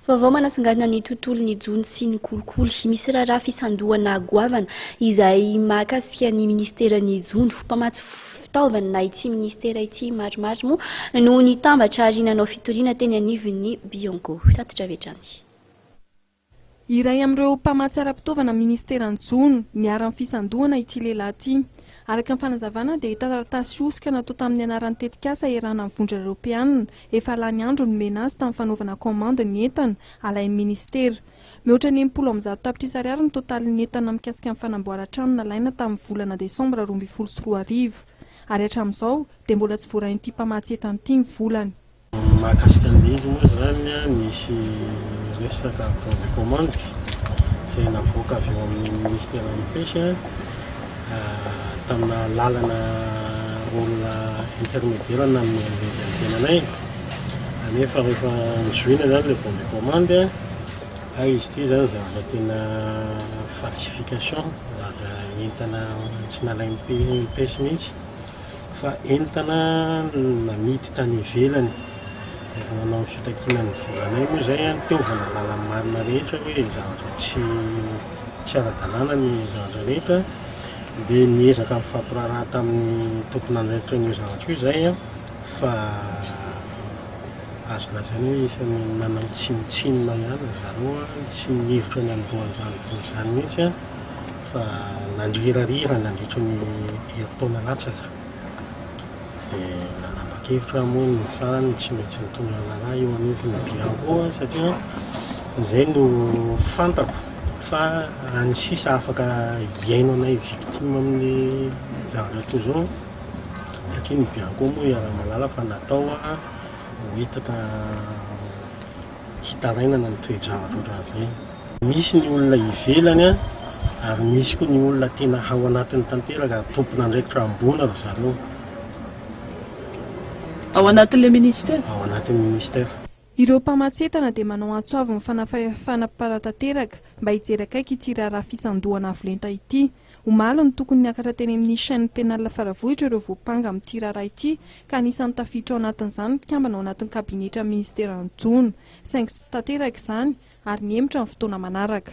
Vaovao manasongadina ny tontolon'ny jono sy ny kolikoly. Misy raharaha fisandohana goavana izay mahakasika ny ministeran'ny jono. Mpamatsy fitaovana ity ministera ity maromaro moa no nitambatra ary nanao fitoriana teny anivon'ny Bionco. Tatitra avy hatrany. Iray amin'ireo mpamatsy ara-pitaovana ministeran'ny jono niharan'ny fisandohana ity lehilahy ity. Araka ny fanazavana dia taratasy hosoka natao tamin'ny anaran'ny tetikasa iarahana amin'ny vondrona eropeanina efa lany andro nomena azy tamin'ny fanaovana kaomandy ny entana alain'ny ministera. Mihoatra ny enimpolo amby zato tapitrisa ariary ny totalin'ny entana mikasika ny fanamboaran-trano nalaina tamin'ny volana desambra roa ambin'ny folo sy roa arivo ary hatramin'izao dia mbola tsy voarain'ity mpamatsy entana ity ny volany. Ny mahakasika ny Lily moa izany, nisy resaka bon de commande izay navoaka avy eo amin'ny Ministeran'ny Pêche tamina lalana rôle intermédiaire nanome an'ilay izy ny tenanay. Anefa rehefa nizohina izany ilay bon de commande, hay izy ity izany zavatra tena falsification, zavatra entana tsy nalain'ny Pêche mihitsy. fa entana namidy tany ivelany. Efa nanao ny fitakiana ny volanay moa izay an, taovana làlan'ny marina rehetra hoe zavatra tsy tsy ara-dalàna ny zavatra rehetra dia niezaka nifampiraharaha tamin'ny tompon'andraikitra an'io zavatra io izahay an, fa azo lazaina hoe isan'ny nanao tsinontsinona ihany ry zareo an, tsy nihevitra ny handoa an'izany vola izany mihitsy an. fa na ny hirarira nandritry ny herintaona latsaka dia nanapa-kevitra aho moa ny farany tsy maintsy nitondra ny rahalahy eo anivon'ny Bianco satria izay no fantako fa any sisa afaka hiaino anay victime amin'ny zavatra toy izao satria ny Bianco moa iaraha-mahalala fa natao hoetaka hitarainana ny toe-javatra ohatran'izay. Misy ny olona ivelany ary misy koa ny olona tena ao anatiny tanteraka ary tompon'andraikitra ambony ry zareo. Ao anatin'ilay Ministera? Ao anatin'ny Ministera. Ireo mpamatsy entana dia manao antso avo ny fanafahefana mpanatanteraka mba hijery akaiky ity raharaha fisandohana avo lenta ity. Omaly no tokony niakatra teny amin'ny Chaine Pénale Faravohitra ireo voampanga amin'ity raharaha ity ka anisan'ny tafiditra ao anatin'izany ny mpikambana ao anatin'ny kabinetran'ny minisiteran'ny Jono, saingy tsy tanteraka izany ary nihemotra ny fotoana manaraka.